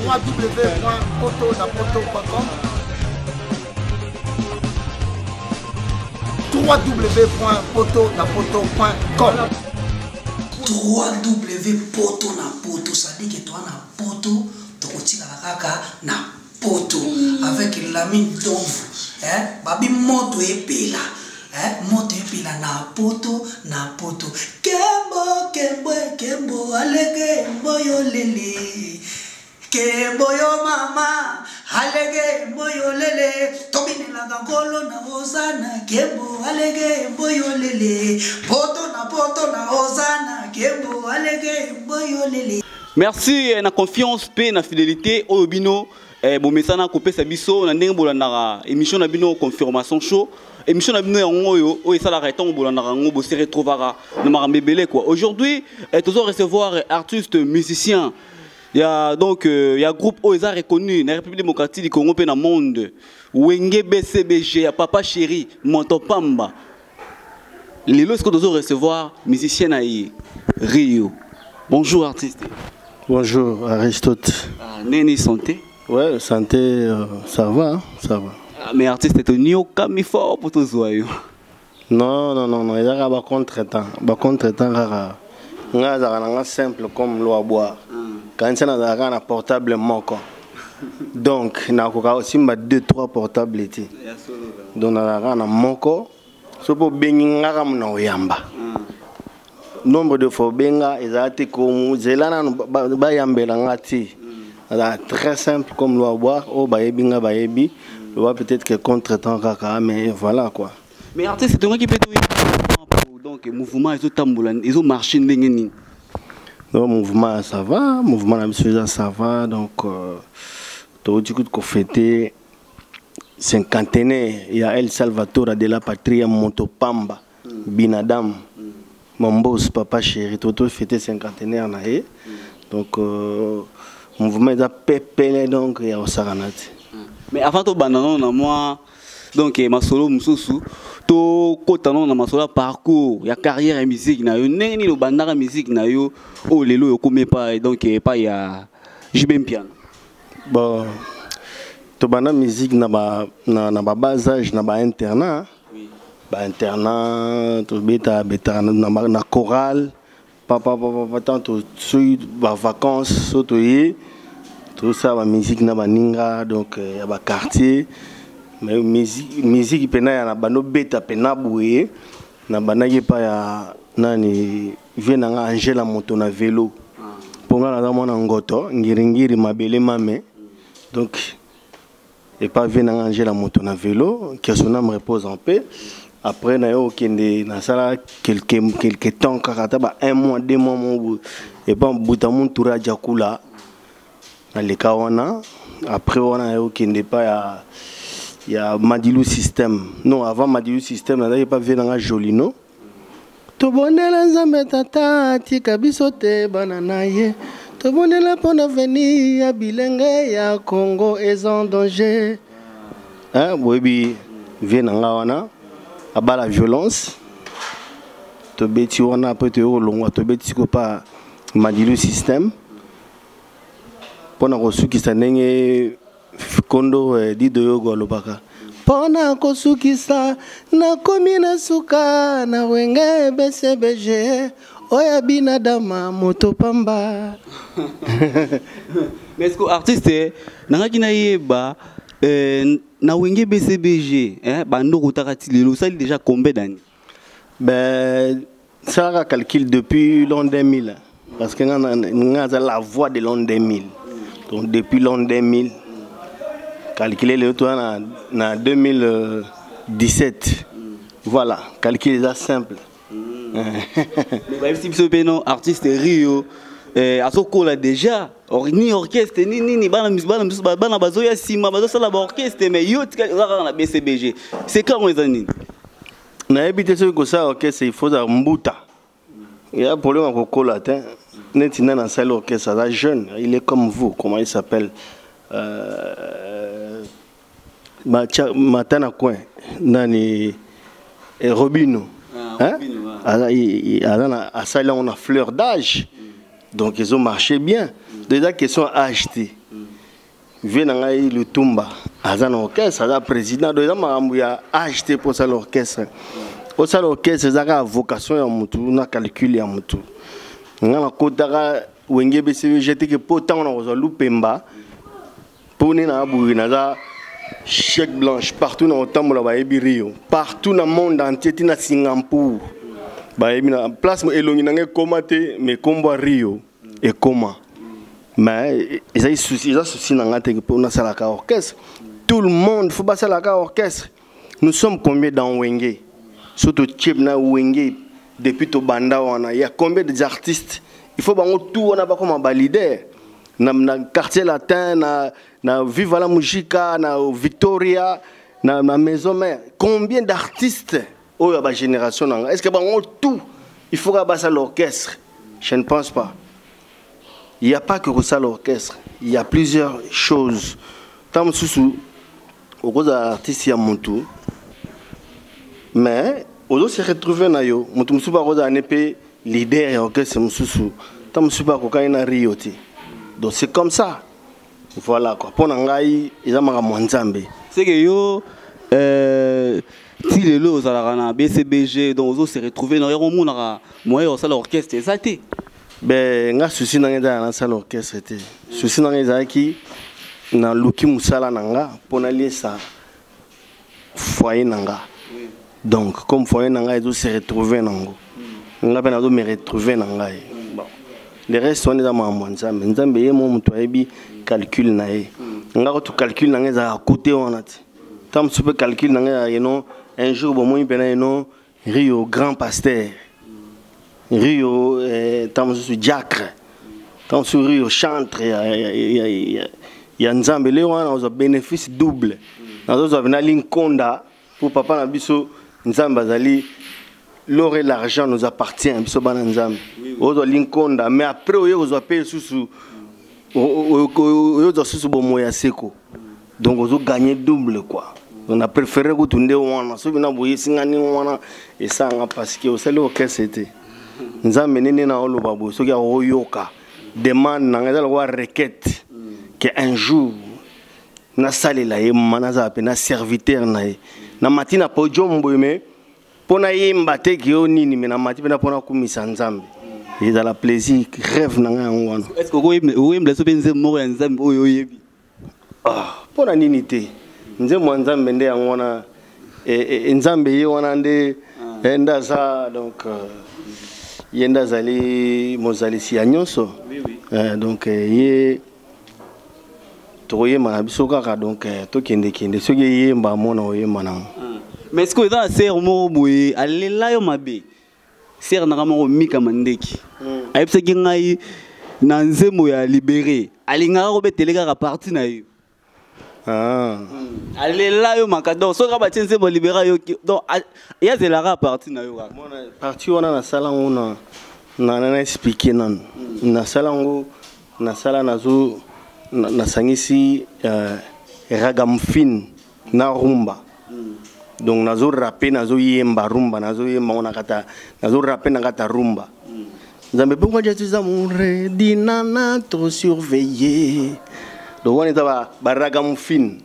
www.poto-na-poto.com www.poto-na-poto.com www.poto-na-poto, c'est-à-dire que toi na poto tokotikala kaka na poto mm. avec lami ntomvu eh? babi moto epela eh? moto epela na poto na poto kembo kembo kembo alege mboyo lele kembo yo mama alege mboyo lele tobinelaka nkolo na ozana kembo alege mboyo lele poto na poto na ozana kembo alege mboyo lele merci eh, na confiance mpe na fidelité oyo bino eh, bomesana kopesa biso na ndenge bolandaka émission na bino confirmation show émission na bino yango oyo oyo esalaka ntango bolandaka yango bose retrouvaka na makambo ebele kua aujourd'hui eh, tozo recevoir eh, artiste musicien ya donc euh, ya groupe oyo eza reconnu na république démocratique du congo mpe na monde wenge bcbg ya papa chéri moto pamba lelo sikoyo tozo recevoir musicien na ye rio bonjour artiste bonjour aristote ah, neni santé ouais santé euh, ça va hein, ça va ah, mais artiste toniokami fort mpo tozwa yo non non non non ezalaka bacontre temps bacontre temps kaka ngai azalaka na nga simple comme lo ya bwar mm. kanisa nazalaka na portable moko donc nakoka osimba 2 3 portable te donc nazalaka na moko so mpo obengi ngaka mona oyamba mm. nombre de fois obenga ezala te kozela nanu bayambela nga te mm. azala très simple comme loi boire oyo oh, bayebi nga bayebi mm. loba peut-être que contre temps kaka mais voilà quoi mais artiste etongaki mpe donc mouvement ezotambola ezomarche ndenge nini donc mouvement ya sava mouvement na biso eza sava donc euh, touti kutu kofete cinquantenaire ya el salvatora de la patria moto pamba binadame Mon boss papa chéri toto fete cinquantenaire na ye donc euh, mouvement eza pepele donc ya kosakana te mais avant tobanda nano na mwa donc eh, masolo mosusu tokota nano na masolo ya parcours ya carrière ya musique na yo ndenge nini obandaka musique na yo oyo lelo oyo okomi epai donc eh, epai ya jb mpiana bon tobanda musique na ba na, na ba bas âge na ba internat ba internat tobeta betaka na chorale papa papa patan soki ba vacances so toye tosala ba musique na baninga donc euh, ya ba quartier mais musique mpena ya na bando beta mpena boye nabandaki epai ya nani vie na nga angela moto na velo mpo nga naza mwana ngoto ngiringiri mabele mame donc Et pas vie nanga angela moto na vélo que son âme repose en paix après na yo okende nasala quelque quelque temps kaka ata ba un mois deux mois mobu epa buta muntura aja kula na leka wana après wana na yo okende epa ya ya madilu système non avant madilu système nazalaki epa vie nanga jolino tobondela nzambe tata atika biso te bana na ye tobondela mpo na veni ya bilenge ya congo eza en danger eh, boyebi vie na nga wana abala violence tobeti wana mpe toyei kolongwa tobeti siko mpa madilu système mpo na kosukisa ndenge kondo eh, dido yogo alobaka mpo na kosukisa nakomi na suka na wenge bcbg oyo abinadama moto pamba mais ko artiste eh, nangaki nayeba eh, na wenge bcbg eh, bandoko otaka ti lelo osali déjà combien d'année ben salaka calcul depuis l'an 2000 parce que nga aza la voix de l'an 2000 donc depuis l'an 2000 calculer lelo toza na, na 2017 voilà calcul eza simple bayebisi biso mpe no artiste rio eh, azokola déjà or, ni orchestre ni nini bana misusu bana bazoya nsima bazosala baorchestre mais yo tikali oza kaka na bcbg secret yango eza nini nayebi te soki kosala orchestre il faut ozala mbuta ya problème ya kokola te neti nani asali orchestre aza jeune il est comme vous comment il s'appelle euh, mata na coin nani eh, robino ah, hein? asali yango na fleur d'âge mm. donc ezomarche bien donc eza question ya age te vie na ngai lutumba aza na orchestre aza président donc eza makambo ya age te mpo osala orchestre osala orchestre eza kaka vocation ya motu na calcul ya motu nga nakotaka wenge bcvg teke mpo ntango nakozwa lupemba mpo nde naa boye naza chèque blanche partout nakotambola bayebi rio partout na monde entier ti na singapour bayebi na place elongi na ngai ekoma te mekombwa rio ekoma mais ezali souci eza souci na ngai te mpo nasalaka orchestre tout le monde fo basalaka orchestre nous sommes combien dans wenge so totie na wenge depuis tobanda wana ya combien des artistes il faut bango tout wana bakoma balider na, na quartier latin na, na viva la musica na victoria na, na maison mère combien d'artistes oyo ya ba génération na nga est ce que bango tout il faut ka basala l'orchestre je ne pense pas il n'y a pas que kosala orchestre il y a plusieurs choses ntango mosusu okozala artiste ya motu mais ozo se retrouver na yo motu mosusu bakozala ne mpe leader ya orchestre mosusu ntango mosusu bakokani na rio te donc c'est comme ça Voilà quoi. Pona ngai eza makambo ya Nzambe. C'est que yo euh ti lelo ozalaka na BCBG donc ozo se retrouver na yako monaka moyen ya kosala orchestre eza te. Ben nga souci na ngai eza na sala orchestre te. Souci na ngai ezalaki na luki musala na nga pona liesa foyer na nga donc comme foyer na ngai ezo se retrouver nango nga mpe nazo me retrouver na ngai bon le reste wana eza makambo ya nzambe nzambe ye mo moto ayebi calcul na ye nga kutu calcul na ngai ezalaka kote wana te ntango mosusu mpe calcul na ngai ezalaka yeno un jour bomoni mpena yeno Rio grand pasteur. Rio eh, tango mosusu diacre. Tango mosusu Rio chantre ya, ya, ya, ya, ya Nzambe. Leo wana ozwa bénéfice double. Nazozwa vena linkonda mpo papa na biso Nzambe azali l'or et l'argent nous appartient biso bana Nzambe. Ozwa linkonda mais après oye kozwa mpe lisusu oye ozwa susu bomoi ya seko. donc ozo gagner double quoi na préféré kutu nde wana soki na boyesi nga ndenge wana esanga parce que osali orchestre te nzambe nini na oloba boye soki akoyoka demande na ngai eza lokola requête ke un jour nasalela ye mama nazala mpe na serviteur na ye na mati na podium boye me mpo nayemba te ke yo nini me na mati mpena mpo nakumisa nzambe ezala plaisir rêve na ngai yango wana okoyembela so mpe nzembo moko ya nzambe oyo oyebi Ah, mpo na nini te nzembo ya nzambe nde yango wana e, e, e, nzambe ye wana nde ah. eh, nde aza donc euh, ye nde azali mozalisi ya nyonso eh, donc ye tokoyemba na biso kaka donc tokendekende soki eyemba amona oyemba nango mais ce que eza na sere moko boye alela yo mabe sere na ngai moko mika mandeki hmm. ayebisaki ngai na nzembo ya libere alingaka kobetele kaka parti na yo ah. hmm. alela yo maka donc soki kaka batie nzembo libere yo donc ye azelaka parti na yo kaka parti wana nasala yango na na explike nanu hmm. nasala yango nasala nazo nasangisi euh, ragamfine na rumba donc nazo rape nazo yemba rumba nazo yemba ngo na kata nazo rape na kata rumba nzambe pourquoi je suis amour dinana trop surveillé donc wana eza ba baraga mufine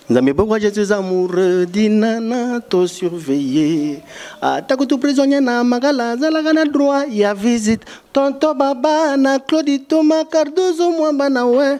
nzambe pourquoi je suis amoureux dinana to surveille ata kutu prisonnier na makala azalaka na droit ya visite tonto baba na claudi toma cardozo mwamba na we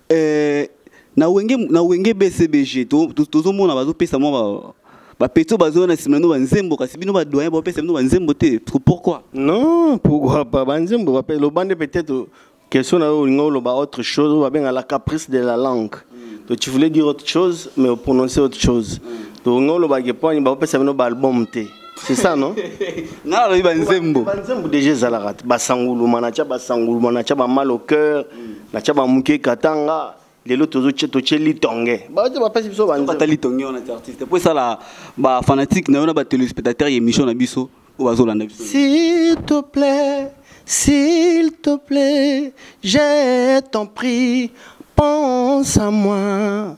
Eh, na wenge na wenge bcbg tozomona bazopesa mwa bapeto bazoya na nsima na bino banzembo kasi bino badoyen bapesa bino banzembo te pourquoi non pourquoi pas banzembo bape loba nde peut-être question na yo olinga oloba autre chose oyo babenga la caprice de la langue mm. donc tu voulais dire autre chose mais oprononce autre chose mm. donc nga olobaki mponi bapesa bino baalbum te c'est ça non nga alobi banzembo banzembo déjà ezalaka te basanguluma natya basanguluma natya bamal au cœur natya bamuke katanga lelo totye litonge baote bapesi biso banzembo litonge wana ti artiste mpo esala bafanatique na yo na batelespectateur ya émission na biso oyo bazolanda biso s'il te plaît s'il te plaît je t'en prie pense à moi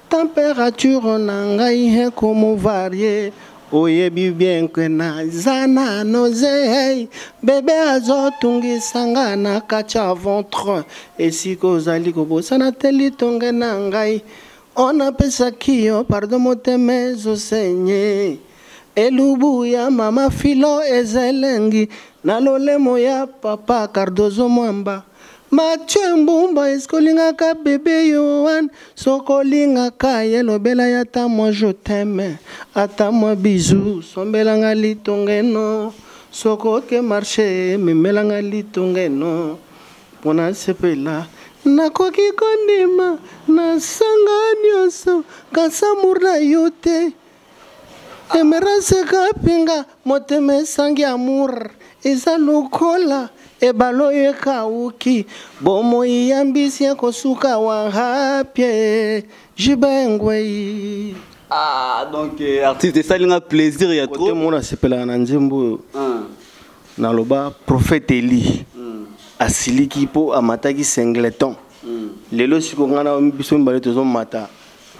Temperature na ngai ekomo varie oyebi bien que naza na noze hey, bebe azotungisa nga na kati ya ventre esika ozali kobosana te litonge na ngai ona pesaki yo pardon motema ezosenye elubu ya mama filo ezelengi na lolemo ya papa cardozo mwamba Mathieu Mbumba eske olingaka bebe Yohan soki olingaka ye lobela ye ata mwa je t'aime ata mwa bizu sombelanga litongeno soki oke marche memelanga litongeno mpo nasepela nakoki kondima nasanga nyonso kasi amour na yo te emerance kapinga motema esangi amour eza lokola ebale oyo ekauki bomoi ya mbisi ekosuka wahapie jibengwei ah donc euh, artiste esali nga plaisir ya trop mona asepelaka na nzembo oyo ah. naloba prophète eli hmm. asiliki mpo amataki singleton hmm. lelo siko ngai na biso mibale tozomata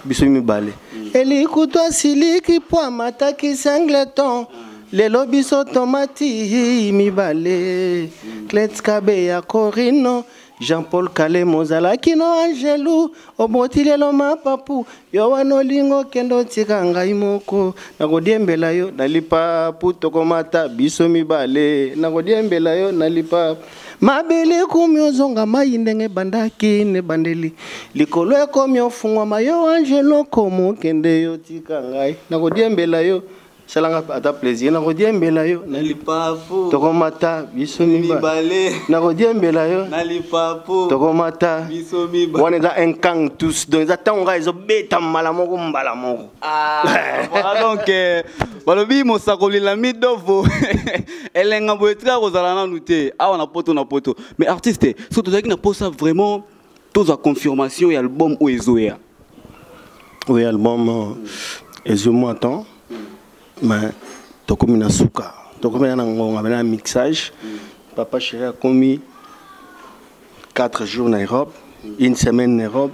biso mibale elikutu asiliki mpo amataki singleton lelo biso tomati mibale clet kabe ya corino jean paul kalemo ozalaki no angelu oboti lelo mapapu yo wana olingi okende otika ngai moko nakodiembela yo na lipapu tokomata biso mibale nakodiembela yo na lipapu mabele ekomi ozonga mai ndenge ebandaki na ebandeli likolo ekomi ofungwama yo angelo komo okende yo tika ngai nakodiembela yo salanga ata plaisir nakodiembela yo na lipapu tokomata biso mibale nakodiembela yo na lipapu tokomata biso mibale wana eza un kang tous donc eza ntango ngai ezobeta mbala moko mbala moko ah, donc euh, balobi mosakoli lami dovo elenga boye tika kozala nanu te awa na poto na poto mais artiste soki tozalaki na mposa vraiment tozwa confirmation ya album oyo ezoya oyo album euh, ezwi mwa temps mais tokomi na suka tokomi na ngonga mpe na mixage papa chéri akomi 4 jours na europe une semaine na europe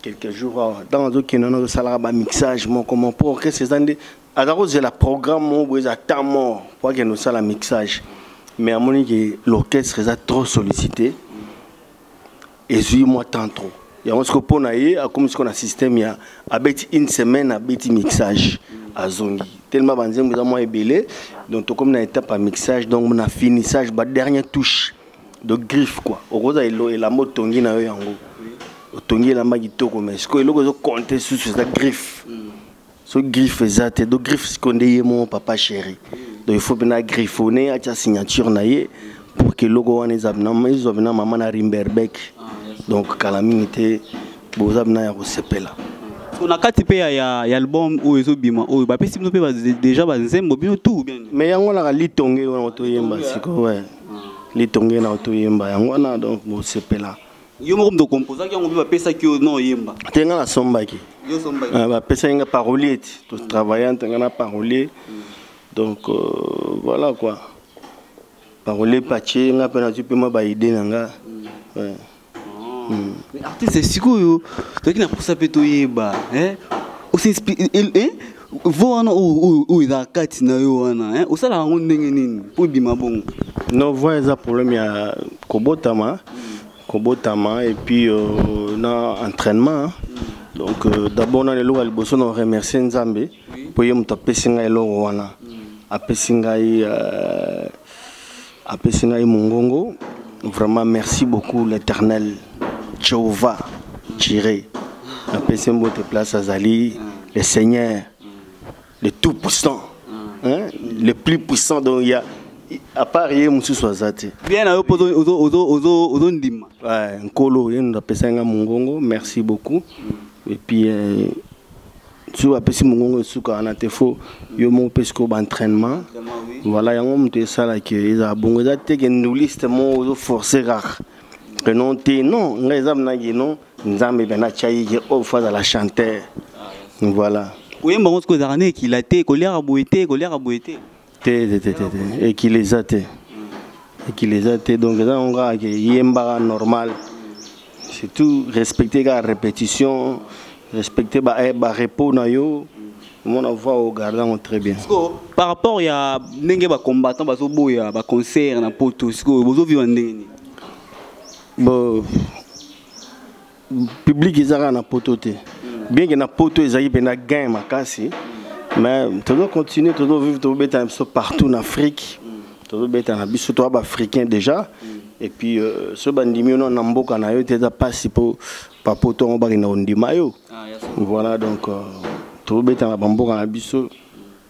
quelques jours awa ntango azokende wana azosalaka bamixage moko mo mpo orchestre eza nde aza kozela programme moko boye eza temps mort mpo akende kosala mixage mais amoni ke l'orchestre eza trop sollicité ezwi mwa temps trop yango siko mpo na ye akomi siko na système ya abeti une semaine abeti mixage azongi tellement banzembo eza mwa ebele donc tokomi na étape ya mixage donc na finissage ba dernier touche de griffe quoi okoza elamba otongi na yo yango otongi elamba kitoko mais sikoyo eloko ezo compte susu eza griffe mm. so griffe eza te do griffe sikoyo nde ye moko papa chéri mm. donc il faut mpena griffonne atia signature na ye pour que eloko wana ezwa mpena mama na rimberbeck ah, donc kala mingi te boza mpena ya kosepela so na kati mpe ya album oyo ezobima oyo bapesi bino mpe deja banzembo bino tu bien me yango naka litonge wana toyemba sikoyo litonge na toyemba yango wana donc bosepela yo moko moto okomposaki yango mpe bapesaki yo no oyemba te ngai nasombaki ah, bapesaki ngai parolier ti totravaille nte ngai na parolier mm. donc euh, voilà quoi parolier patie ngai mpe nazwi mpe mwa baide na ngai mm. Mais artiste sikoyo toki na posa pe toyeba hein eh, vo wana oyo eza kati na yo wana eh, osalaka yango ndenge nini mpo ebima bongo no voi eza problème ya kobotama kobotama et puis euh, na entraînement donc euh, d'abord nani eloko ya liboso na remercier nzambe mpo ye moto apesi ngai eloko wana apesi ngai euh, apesi ngai mongongo vraiment merci beaucoup l'éternel jehovah jire napesi mbote place azali le seigneur le tout puissant hein? le plus puissant donc ya à part ye mosusu aza te bien na yo mpo ozondima nkolo ye ndo apesaki ngai mongongo merci beaucoup et puis euh, soki bapesi mongongo esuka wana te fo yo moko opesi ko baentrainement voilà yango moto esalaki ezala bongo eza te ke nduliste moko ozoforce kaka ke non te non ngai eza mnaki non nzambe mpe natyaki ke oyo oh, fo azala chanteur voilà koyemba yango soki ezalaka na ekila te koliaka boye te koliaka boye te te te te te ekili eza te ekili eza te donc eza yango kaka ke yembaka normal surtout respecte kaka répétition respecte ba, eh, ba repos na yo omona voix ogarde yango très bien sikoyo par rapport ya ndenge bacombattant bazoboya baconcert na poto sikoyo bozoviva ndenge nini bo public eza kaka na poto te bien que na poto ezalaki mpe na gain makasi mais tozo continue tozo vivre tobeta na biso partout na afrique tozobeta na biso toya baafricain déjà et puis euh, soki bandimi yo na mboka na yo te eza mpasi mpo papoto yango bakenda kondima yo ah, voilà donc euh, tobetana bamboka na biso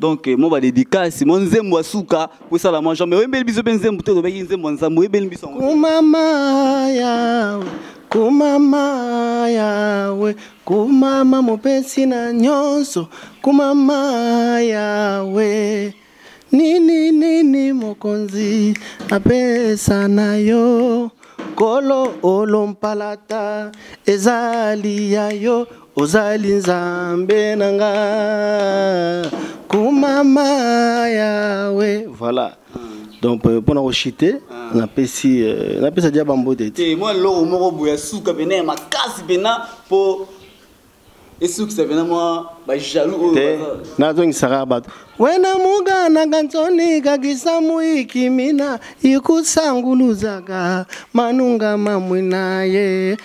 donc eh, mwa badedikasi mwa nzembo ya suka kosala mwa jambe oyembeli biso mpe nzembo te olobaki nzembo ya nzambe oyebeli biso yango kumama yawe kumama yawe kumama mopesi na nyonso kumama yawe nini nini mokonzi apesa na yo kolo olompalata ezali ya yo ozali nzambe na nga kumama yawe voilà donc euh, mpona koshite ah. napesi euh, napesa dia bambote te mwa eloko moko boye ya suka mpena ya makasi mpena mpo esukisa mpena mwa bajalou oyo te nazongisaka bato wena mugananga nsoni kakisa muikimina ikusanguluzaka manunga mamwina ye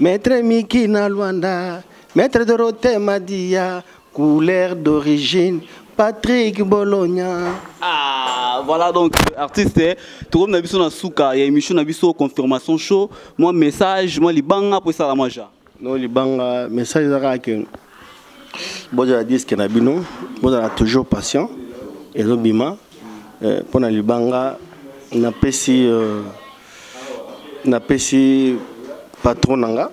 Maître Miki na Luanda, Maître Dorothée Madia, couleur d'origine, Patrick Bologna. Ah, voilà donc euh, artiste eh, tokomi na biso na suka ya émission na biso confirmation show mwa message mwa libanga mpo esala mwa ja no libanga message eza kaka ke bozala diske na bino bozala toujours patient ezobima mpo eh, na libanga napesi euh, napesi patron na nga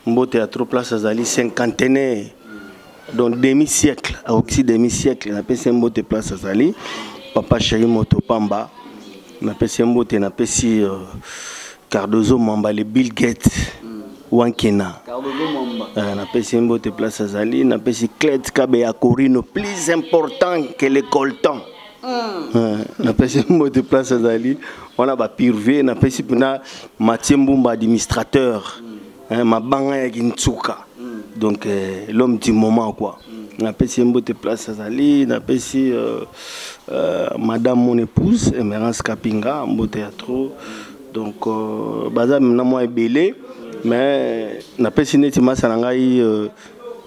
mbote ya trop place azali cinquantenaire donc demi siècle akoki demi siècle napesi mbote place azali papa chéri moto pamba napesi mbote napesi euh, cardozo mamba le bill gate wankena euh, napesi mbote place azali napesi clet kabe ya corino plus important que le coltan napesi mbote place azali wana bapirve napesi mpena matie mbumba administrateur eh, mabanga ya kinsuka donc eh, l'homme du moment quoi napesi ye mbote place azali napesi euh, euh, madame mon épouse emerance kapinga mbote ya trop donc euh, baza na mwa ebele mais napesi neti masa na ngai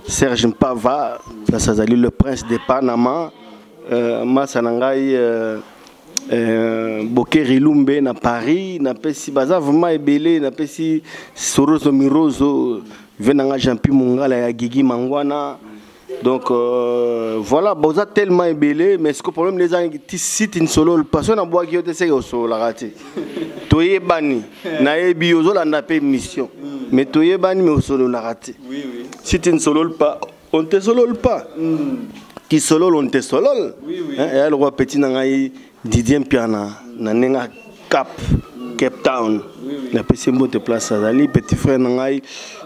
serge mpava place azali le prince de panama Euh, masa na ngai euh, euh, bokeri lumbe na paris napesi baza vraiment ebele napesi sorozo mirozo vie na ngai jeanpi mongala ya gigi mangwana donc euh, voilà boza tellement ebele mais siko problème nde ezangi ti site nsololo paso nabwaki yo te seke osololaka te toyebani nayebi ozolanda mpe mission mais toyebani mais osololaka te site nsololo pa on ne te solole pas qui solole on ne te solole oui, oui. Hein, et le roi petit na ngai Didier Mpiana na nenga cap Cape Town oui, oui. na pesi mbote place azali petit frère na ngai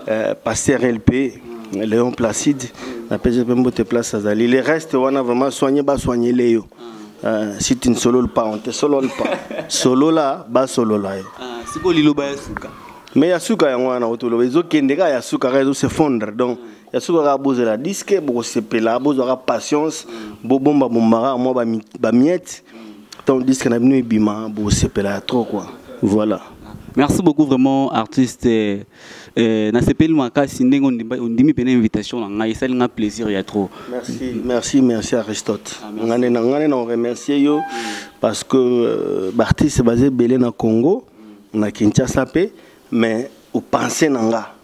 euh, pasteur LP Léon Placide na pesi mbote place azali les restes wana vraiment soigner ba soigner les yo ah. Euh, si tu ne sololes pas, on ne te solole pas. Solola, ba solola yo. Ah, c'est quoi liloba ya suka? Mais ya suka yango wana otoloba ezokende ka ya suka ka ezo se fondre donc ya soki kaka bozela diske bokosepela bozwaka patience bobomba bombaka mwa bamiete ntango diske na bino ebima bosepela ya trop quoi voilà merci beaucoup vraiment artiste euh, euh, nasepeli makasi ndenge ondimi mpena invitation na ngai esali ngai plaisir ya trop merci merci merci aristote ah, ngai nde na ngai nde na oremercie yo parce que euh, baartiste baza ebele na congo na kinshasa mpe mais opense na nga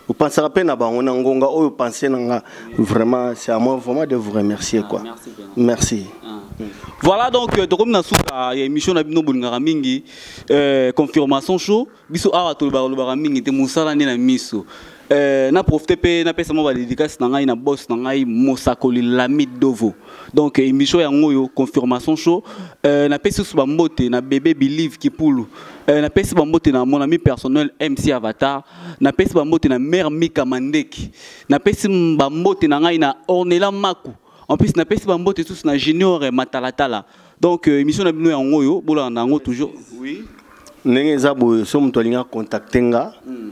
opensaka mpe na bango na ngonga oyo opense na nga vraiment c'est à moi vraiment de vous remercier ah, quoi merci ah. voilà donc euh, tokomi na suka ya émission na bino bolingaka mingi euh, confirmation show biso awa tolobaka lobaka mingi te mosala nde na miso Euh, na profite mpe napesa mwa badedikasi na ngai na boss na ngai mosakoli lami dovo donc euh, émission yango oyo confirmation show euh, napesi susu bambote na bebe believe kipulu euh, napesi bambote na mon ami personnel mc avatar napesi bambote na mare mika mandeki napesi bambote na ngai na ornela maku en plus napesi bambote susu na junior matalatala donc euh, émission na bino yango oyo bolanda yango toujours oui ndenge eza boye so moto alingi akontakte nga mm.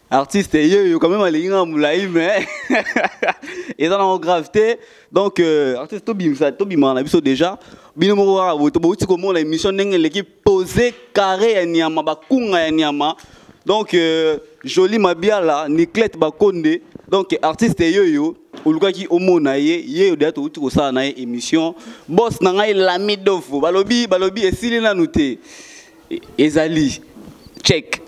artiste yeyo quand même alingi nga molai mais eza nango grave te donc euh, artiste tobimisa tobimaka na biso déjà bino moko kaka boye bouti komona émission ndenge eleki pose carré ya nyama bakunga ya nyama donc euh, jolie mabiala niclette bakonde donc artiste yeyo olukaki omona ye yeyo deya touti kosala na ye émission bos na ngai lami dofo balobi balobi esili nanu te e-, ezali check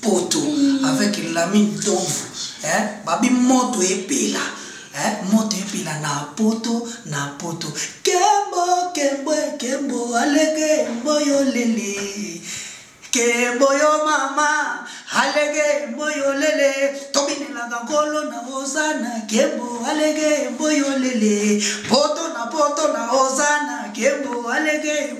poto mm. avec lami ntomvu eh? babi moto epela eh? moto epela na poto na poto kembo kembo kembo alege mboyo lele kembo yo mama alege mboyo lele tobinelaka nkolo na ozana kembo alege mboyo lele poto na poto na ozana kembo alege